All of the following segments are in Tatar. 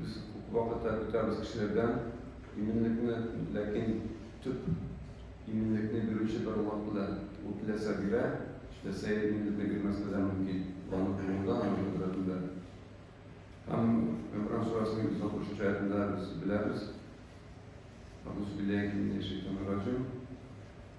Без күп вакытлар көтәбез кешеләрдән иминлекне, ләкин төп иминлекне бирүче бер вакыт белән ул теләсә бирә, теләсә иминлекне бирмәскә дә мөмкин. Аның кулында, аның кодрәтендә. Һәм Гөмран сурәсенең 160 аятында без беләбез. Агузу биллахи минәш шәйтанир раҗим.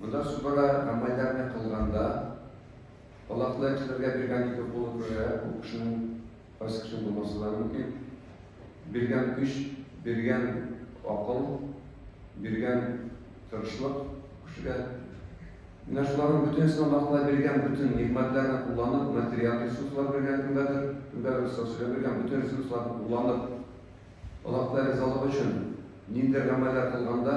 Монда субара комбайндарны кылганда, алакны эшләргә биргән ике кулы күрә, ул кешенең кайсы кеше булмасы да мөмкин. Биргән көч, биргән акыл, биргән тырышлык кешегә. Менә шуларның бөтенесен Аллаһ биргән бөтен нигъмәтләрне кулланып, материаль ресурслар биргән кемгәдер, кемгәдер социаль биргән бөтен ресурсларны кулланып, Аллаһ ризалыгы өчен ниндидер гамәлләр кылганда,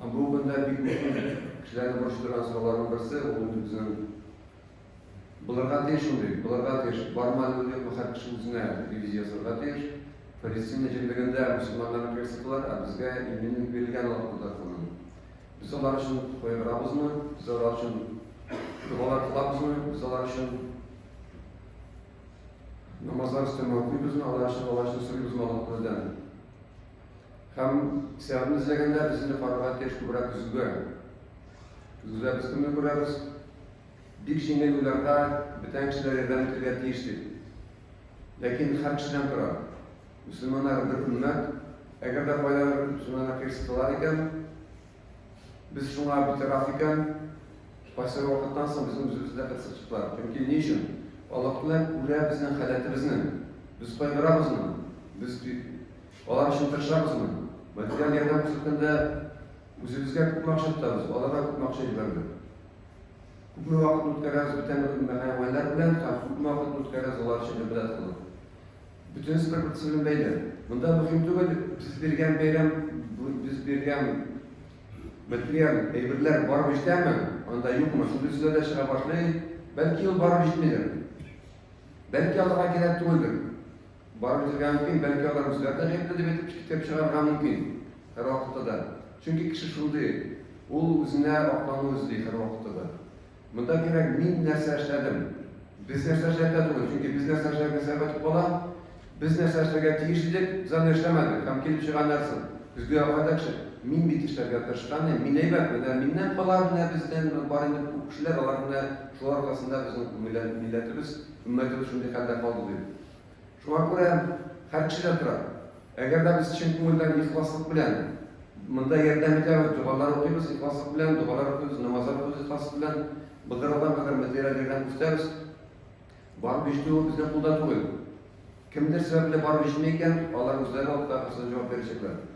Бүгенге көндә бик күп кешеләрне борчытырган сорауларның берсе, ул инде безнең булырга тиеш ул бит, булырга тиеш, бармы әле ул юкмы, һәр кеше үзенә ревизия ясарга тиеш. Палестина җирлегендә мөселманнарны кертсыклар, ә безгә иминлек бирелгән алар тарапыннан. Без алар өчен кайгырабызмы, без алар өчен догалар кылабызмы, без алар өчен намазлар өстәмә укыйбызмы, алар өчен алар өчен сорыйбызмы Аллаһ Тәгаләдән? Һәм театрны эзләгәндә без инде карарга тиеш күбрәк көзгегә. Көзгедә без кемне күрәбез? Бик җиңел уйларга бүтән кешеләр ярдәм итәргә тиеш дип. Ләкин һәр кешедән тора. Мөселманнар бер өммәт, әгәр дә кайдадыр мөселманнар кыерсыталар икән, без шуңа битараф икән, кайсы вакыттан соң безнең үзебезне дә кыерсытучылар. Чөнки ни өчен? Аллаһ Тәгалә күрә безнең халәтебезне. Без кайгырабызмы? Без Алар өчен тырышабызмы? Материаль ярдәм күрсәткәндә үзебезгә күпме акча тотабыз, аларга күпме акча җибәргән? Күпме вакыт үткәрәбез бүтән мәхәйваннар белән һәм күпме вакыт үткәрәбез алар өчен гыйбадәт кылып? Бөтенесе бер-берсе белән бәйле. Монда мөһим түгел, без биргән бәйрәм, без биргән материаль әйберләр барып җитәме, анда юкмы, шундый сүзләр дә чыга башлый. Бәлки ул барып җитмидер. Бәлки аларга кирәк түгелдер. Барыбызга да мөмкин, бәлки алар үзләре дә гаепле дип әйтеп китап чыгарырга мөмкин. Һәрвакытта да. Чөнки кеше шундый, ул үзенә аклану эзли һәрвакытта да. Монда кирәк, мин нәрсә эшләдем? Без нәрсә эшләдек түгел, чөнки без нәрсә эшләгән сәбәп кала, без нәрсә эшләргә тиеш идек, без аны эшләмәдек, һәм килеп чыга нәрсә? Көзге акадакчы, мин бит эшләргә тырышкан идем, мин әйбәт, менә миннән кала, менә бездән бар инде күп кешеләр, алар менә шулар аркасында безнең милләтебез, өммәтебез шундый хәлдә калды, дип. Шуңа күрә һәр кеше дә тора. Әгәр дә без чын күңелдән ихласлык белән монда ярдәм итәбез, догалар укыйбыз ихласлык белән, догалар укыйбыз, намазлар укыйбыз ихласлык белән, былтырлардан кадәр без дәрәҗәгә үсәбез. Барып җитүе безнең кулда түгел. Кемдер сәбәпле барып җитми икән, алар үзләре алып та кысылып җавап бирәчәкләр.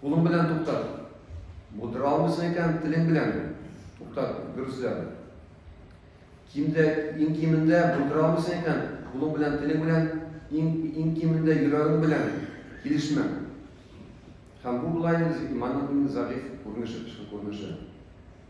Кулың белән туктат. Булдыра алмыйсың икән, телең белән туктат, дөресрәк. Кимдә, иң кимендә булдыра алмыйсың икән, кулың белән, телең белән, иң, иң кимендә йөрәгең белән килешмә. Һәм бу болай иманның иң зәгыйфь күренеше, тышкы күренеше.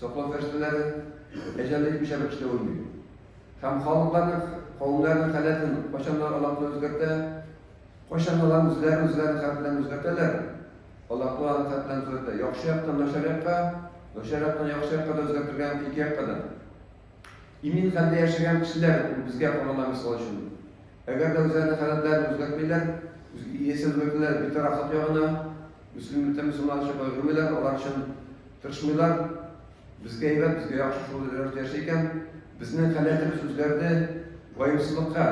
Саклау фәрештәләре әҗәл җитмичә рәвештә үлми һәм халыкларның, кавемнәрнең хәләтен кайчаннар Аллаһтан үзгәртә, кайчан алар үзләре үзләрен хәләтләрен үзгәртәләр, Аллаһтан алар хәләтләрен үзгәртә. Яхшы яктан начар якка, начар яктан яхшы якка да үзгәртергә мөмкин ике якка да. Имин хәлдә яшәгән кешеләр ул безгә караганда мисал өчен. Әгәр дә үзләренең хәләтләрен үзгәртмиләр, үз иясен үзгәртәләр, битарафлык ягына, мөслимлектән мөселманча кайгырмыйлар, алар өчен Тырышмыйлар, безгә әйбәт, безгә яхшы шул рәвештә яши икән, безнең каләтер сүзләрне ваемсызлыкка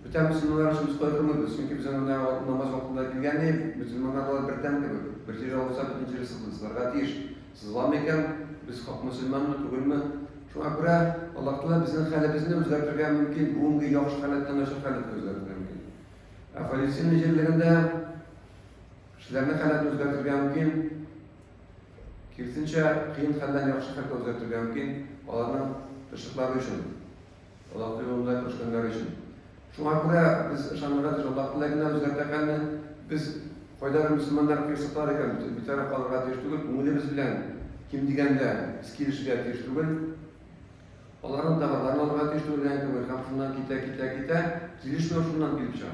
Бүтән мөселманнар өчен без кайгырмыйбыз, чөнки безнең менә намаз вакытында килгән ел мөселманнар алар бер тәм кебек, бер җирә алса бөтен җире сызларга тиеш. Сызламый икән, без хак мөселманмы, түгелме? Шуңа күрә Аллаһ Тәгалә безнең хәлебезне үзгәртергә мөмкин, бүгенге яхшы халәттән начар халәткә үзгәртергә мөмкин. Ә Фалестин җирлегендә Кешеләрнең хәлен үзгәртергә мөмкин. Кирсенчә, кыен хәлдән яхшы хәлгә үзгәртергә мөмкин. Аларның тырышлыклары өчен, Аллаһ юлында тырышканнары өчен. Шуңа күрә без ышанырга тиеш, Аллаһ теләгенә үзгәртә хәлне. Без кайда бер мөселманнар кыерсыклар икән, битараф калырга тиеш түгел, күңелебез белән ким дигәндә без килешергә тиеш түгел. Аларның товарларын алырга тиеш түгел, һәм шуннан китә, китә, китә, килешмәү шуннан килеп чыга.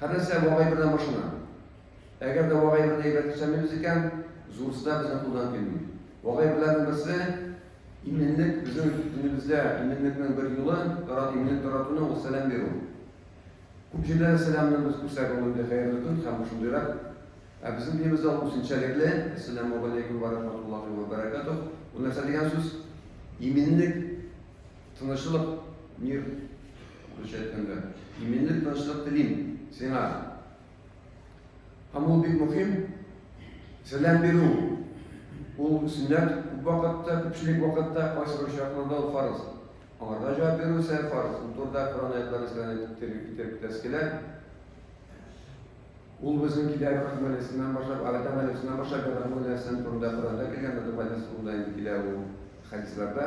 Һәрнәрсә вагай белән башлана. Әгәр дә вагай белән әйбәт төзәмибез икән, зурысы да безнең кулдан килми. Вагай беләрнең берсе, иминлек, безнең динебездә иминлекнең бер юлы, тара, иминлек таратуның ул сәлам бирү. Күп җирләрдә сәламны без күрсәк ул инде хәерле көн һәм шундыйрак. Ә безнең динебездә ул үсенчәлекле, Әссәләмү галәйкүм вә рахматуллаһи вә бәрәкәтүһ. Бу нәрсә дигән сүз? Иминлек. Тынычлык, мир русча әйткәндә. Иминлек, тынычлык телим сиңа. Һәм ул бик мөһим. Сәлам бирү. Ул сөннәт күп вакытта, күпчелек вакытта кайсы бер очракларда ул фарыз. Аларга җавап бирү исә фарыз. Ул турыда Коръән аятлары исәбенә китереп китереп китәсе килә. Ул безнең килә Рахманисыннан башлап, Алатан Алисыннан башлап, Рахманисыннан турында Коръәндә килгән, Рахманисында инде килә ул хәдисләрдә.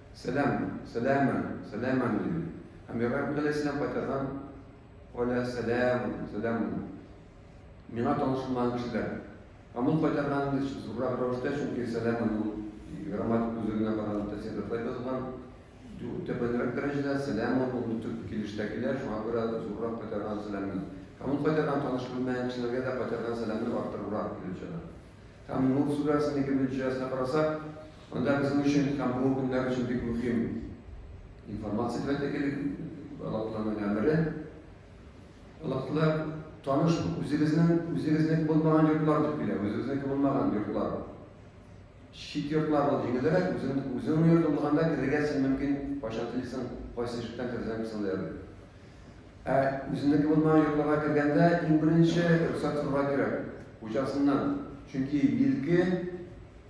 Сәлам, сәләмә, сәләмә минем. Һәм Ибраһим галәйһиссәлам кайтарган Аля сәлам, сәлам. Миңа танышылмаган кешеләр. Һәм ул кайтарган инде зуррак рәвештә, чөнки сәлам ул грамматик үзлегенә караганда тәфсирдә тулай язылган. Төбәнрәк дәрәҗәдә сәлам ул төп килештә килә, шуңа күрә зуррак кайтарган сәламне. Һәм ул кайтарган таныш белмәгән кешеләргә дә кайтарган сәламне арттырыбрак килеп чыга. Һәм нур сүрәсенең икенче аясына карасак, Анда безнең өчен һәм бу көннәр өчен бик мөһим информация кирәк иде, Аллаһтан гамәле. Аллаһтан таныш үзебезнең үзебезнең булмаган йортлар дип килә, үзебезнең булмаган йортлар. Чит йортлар бу җиңелрәк, үзең үзең йортың булганда керергә син мөмкин, кайчан телисең, кайсы ишектән керсәң кесәң дә ярый. Ә үзеңнеке булмаган йортларга кергәндә иң беренче рөхсәт сорарга кирәк, хуҗасыннан. Чөнки милке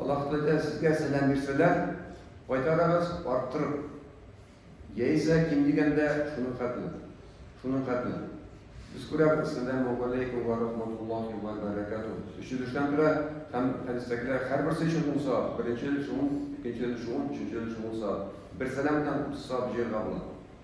Аллаһ Тәгалә сезгә сәлам бирсәләр, кайтарыгыз арттырып. Яисә ким дигәндә шуның хәтле. Шуның хәтле. Без күрәбез, сәләму алейкум ва рахматуллахи ва баракату. Өченчедән тора һәм хәдистәгеләр һәрберсе өчен ун савап. Беренче өлеше ун, икенче өлеше ун, өченче өлеше ун савап. Бер сәлам белән утыз савап җыярга була.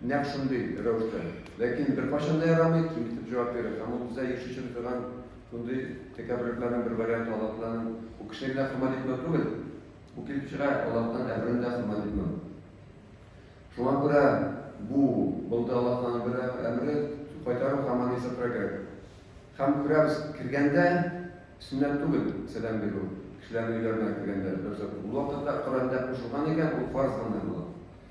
Нәкъ шундый рәвештә. Ләкин беркайчан да ярамый, ким итеп җавап бирү һәм ул бездә еш очрый торган шундый тәкәбберлекләрнең бер варианты, Аллаһтааламин, бу кешегә генә хөрмәт итмәү түгел, бу килеп чыга, Аллаһтааламин әмерен дә хөрмәт итмәү. Шуңа күрә бу булды Аллаһтааламин бер әмере, кайтару һәм аны исәпләргә кирәк. Һәм күрәбез, кергәндә сөннәт түгел сәлам бирү, кешеләрнең өйләренә кергәндә, рөхсәт. Ул вакытта Коръәндә кушылган икән, ул фарыз гына була.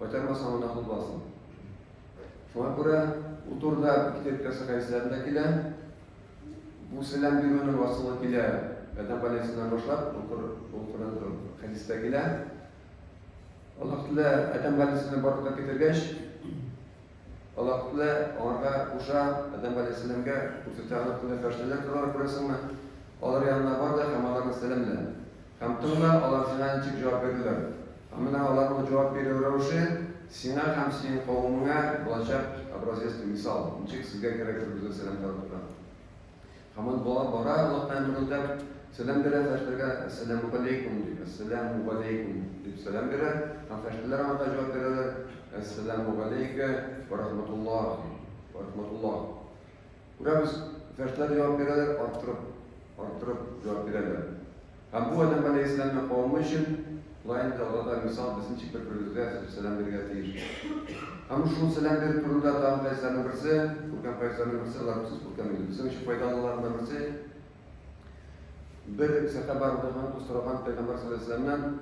Кайтармасаң гына кулбасын. Шуңа күрә бу турыда Киркасы рәисләре дә килә. Бу сәлам бирүнең асылы килә Адәм галәйһиссәламнән башлап, бу Коръән хәдистә килә. Аллаһ Тәгалә Адәм галәйһиссәламне барлыкка китергәч, Аллаһ Тәгалә аңарга куша, Адәм галәйһиссәламгә күрсәтә, аның өстендә фәрештәләр торалар, күрәсеңме? Алар янына бар да һәм аларны сәламлә. Һәм тыңла, алар сиңа ничек җавап бирделәр. Һәм менә аларның җавап бирү рәвеше сиңа һәм синең кавемеңә булачак образец һәм мисал, ничек сезгә кирәк бер-берегезгә сәлам таратырга. Һәм ул бала бара-лык белән мөрелдәп сәлам бирә фәрештәләргә, Әссәләмүгаләйкүм дип, Әссәләмүгаләйкүм дип сәлам бирә, һәм фәрештәләр аңарга җавап бирәләр, Әссәләмүгаләйкә вә рахматуллаһи вә рахматуллаһ. Күрәбез, иптәшләр җавап бирәләр, арттырып, арттырып җавап бирәләр. Һәм бу адәм галәйһиссәламне кабул өчен, шулай инде Алла да мисал без ничек бер-беребезгә сез сәлам бирергә тиеш. Һәм шул сәлам бирү турында тагын хәдисләрнең берсе, күркәм хәдисләрнең берсе, алар бик күркәм инде, безнең өчен файдалыларның берсе, Бер сәхәбә радиаллаһу анһу сораган пәйгамбәр саллаллаһу алейһи вәсәлләмнән,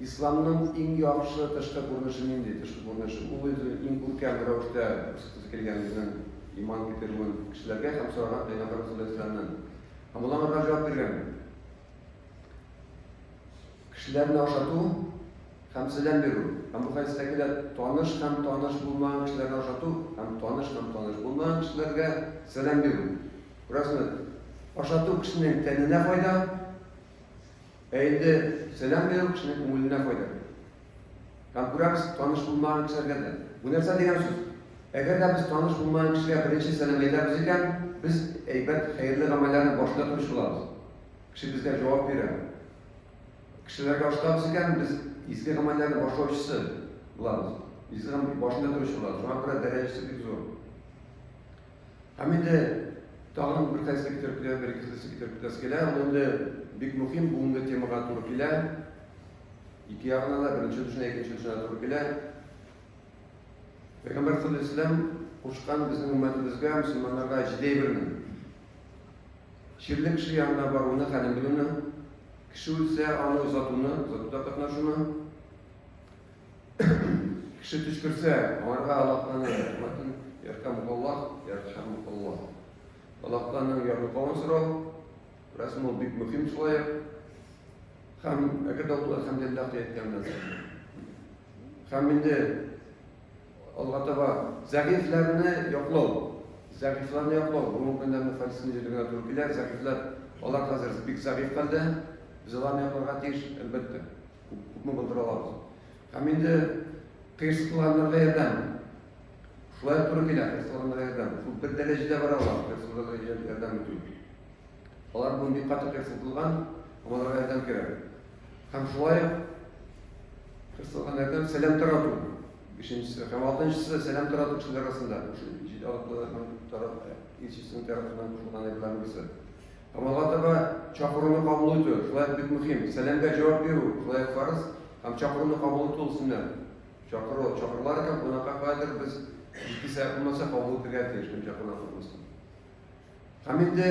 Исламның иң яхшы тышкы күренеше нинди? Тышкы күренеше ул үзе иң күркәм рәвештә күрсәтәсе килгән үзенең иман китерүен кешеләргә һәм сораган пәйгамбәр саллаллаһу алейһи вәсәлләмнән. Һәм ул аңа җавап биргән. Кешеләрне ашату һәм сәлам бирү. Һәм бу хәдистә килә, таныш һәм таныш булмаган кешеләрне ашату һәм таныш һәм таныш булмаган кешеләргә сәлам бирү. Рәхмәт. Ашату кешенең тәненә файда, ә инде сәлам бирү кешенең күңеленә файда. Һәм күрәбез, таныш булмаган кешеләргә дә. Бу нәрсә дигән сүз? Әгәр дә без таныш булмаган кешегә беренче сәлам әйтәбез икән, без әйбәт, хәерле гамәлләрне башлый торучы булабыз. Кеше безгә җавап бирә. Кешеләргә ашатабыз икән, без изге гамәлләрне башлаучысы булабыз. Изге гамәл башында торучы булабыз. Шуңа күрә дәрәҗәсе бик зур. Һәм инде тагын бер кайсы китереп китә, бер ике кайсы китереп китәсе килә. Ул инде бик мөһим бүгенге темага туры килә. Ике ягына да беренче төшенә, икенче төшенә туры килә. Пәйгамбәр саллаллаху алейһи вәсәлләм кушкан безнең өммәтебезгә, мөселманнарга җиде әйберне. Чирле кеше янына баруны, хәлен белүне, кеше үлсә, аны озатуны, озатуда катнашуны, Кеше төшкерсә, аңарга Аллаһтан рәхмәтен ярхамукаллах, ярхамукаллах. Аллаһтан ярдәм сорау, рәсем ул бик мөһим шулай ук. Һәм әгәр дә ул әлхәмдулиллах әйткәннән соң. Һәм инде алга таба зәгыйфьләрне яклау, зәгыйфьләрне яклау, бу мөмкинлекне фальсификация җиргә туры килә, зәгыйфьләр, алар хәзер бик зәгыйфь хәлдә, без аларны якларга тиеш, әлбәттә. күпме булдыра алабыз. Һәм инде кыерсытуларына ярдәм. Шулай туры килә кыерсытуларына ярдәм. Шул бер дәрәҗәдә бара алар кыерсытуларына ярдәм итү. Алар бүген бик каты кыерсытылган, аларга ярдәм кирәк. Һәм шулай ук кыерсытуларына ярдәм сәлам тарату. Бишенчесе һәм алтынчысы сәлам тарату кешеләр арасында. Җит алып тарату, илчесенең тарафыннан кушылган әйберләрнең берсе. Амалга таба чакыруны кабул итү, шулай ук бик мөһим. Сәламгә җавап бирү, шулай ук фарыз һәм чакыруны кабул итү ул сөннәт. Чакыру, чакырулар икән, кунакка каядыр без иске сәгать булмаса кабул итергә тиеш, кем чакырган куркмасын. Һәм инде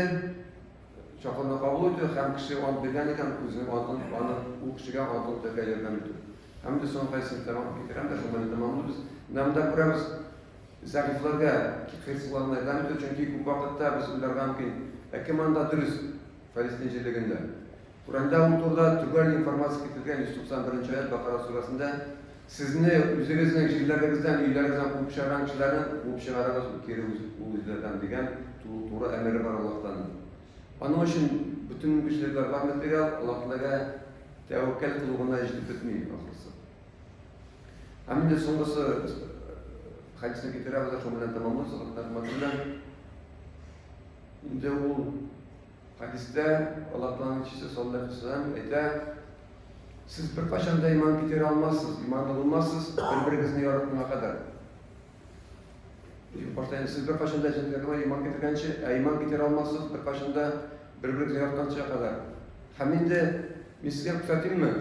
чакыруны кабул итү һәм кеше ант биргән икән, үзенең антын, аны ул кешегә антын үтәргә ярдәм итү. Һәм инде соңгы кайсы тәмам китерәм дә, шуны тәмамлыйбыз. Менә монда күрәбез, Зәгыйфьләргә, хирыслыларны игълан итү, чөнки күп вакытта без уйларга мөмкин, Ә кем анда дөрес? Фәлестин җирлегендә. Коръәндә ул турыда төгәл информация китерелгән 191 нче аять Бакара сүрәсендә, Сезне үзегезнең җирләрегездән, өйләрегездән куып чыгарган кешеләрне куып чыгарыгыз, кире үзләрдән, дигән туры әмере бар Аллаһтан. Аның өчен бөтен мөмкинчелекләр бар материал, Аллаһ Тәгаләгә тәвәккәл кылу гына җитеп бетми, ахрысы. Ә менде соңгысы хәдисне китерәбез, шул белән тәмамлыйбыз, рәхмәт белән. Инде ул хәдистә Аллаһ Тәгаләнең чисе саллаллаһу алейхи вәсәлләм әйтә, сез бер кашан да иман китерә алмассыз, иманлы булмассыз, бер-берегезне яратуга кадәр. Ил баштан сез бер кашан да җәнлекләргә иман китергәнче, ә иман китерә алмассыз, бер кашан да бер-берегезне яратканча кадәр. Һәм инде мискә күрсәтимме?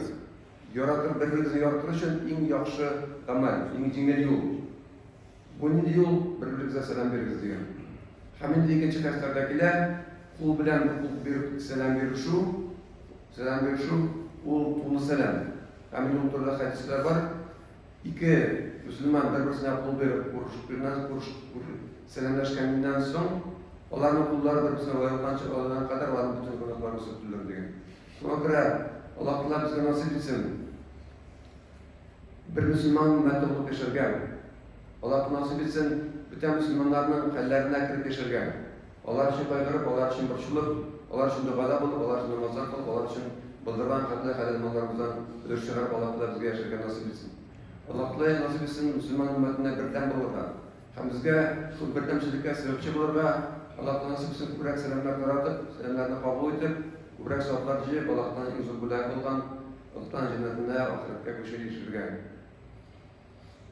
Яратып бер берегезне яратыр өчен иң яхшы гамәл, иң җиңел юл. Бу нинди юл? Бер берегезгә сәлам бирегез дигән. Һәм инде икенче хәстәрдә килә, кул белән кул биреп сәлам бирешү, сәлам бирешү ул тулы сәлам. Һәм инде ул турыда хәдисләр бар. Ике мөселман бер-берсенә кул биреп күрешкәннән күреш сәламләшкәннән соң, аларның куллары бер-берсенә ваелганчы, алардан кадәр аларның бөтен гөнаһлары сүтелер дигән. Шуңа күрә Аллаһ-Тәгалә безгә насыйп итсен, бер мөселман өммәте булып яшәргә. Аллаһ насыйп итсен, бүтән мөселманнарның хәлләренә кереп яшәргә. Алар өчен кайгырып, алар өчен борчылып, алар өчен догада булып, алар өчен намазлар кылып, алар өчен былдырган канлы хәләл малларыбыздан өлеш чыгарып Аллаһ-Тәгалә безгә яшәргә насыйп итсен. Аллаһ-Тәгалә насыйп итсен мөселман өммәтенә бердәм булырга. Һәм безгә шул бердәмчелеккә сәбәпче булырга, Аллаһ Тәгалә сүксен күбрәк сәламнәр таратып, сәламнәрне кабул итеп, күбрәк саваплар җыеп, Аллаһтан иң зур бүләк булган Олтан җәннәтенә, ахирәткә күчереп яшерергә.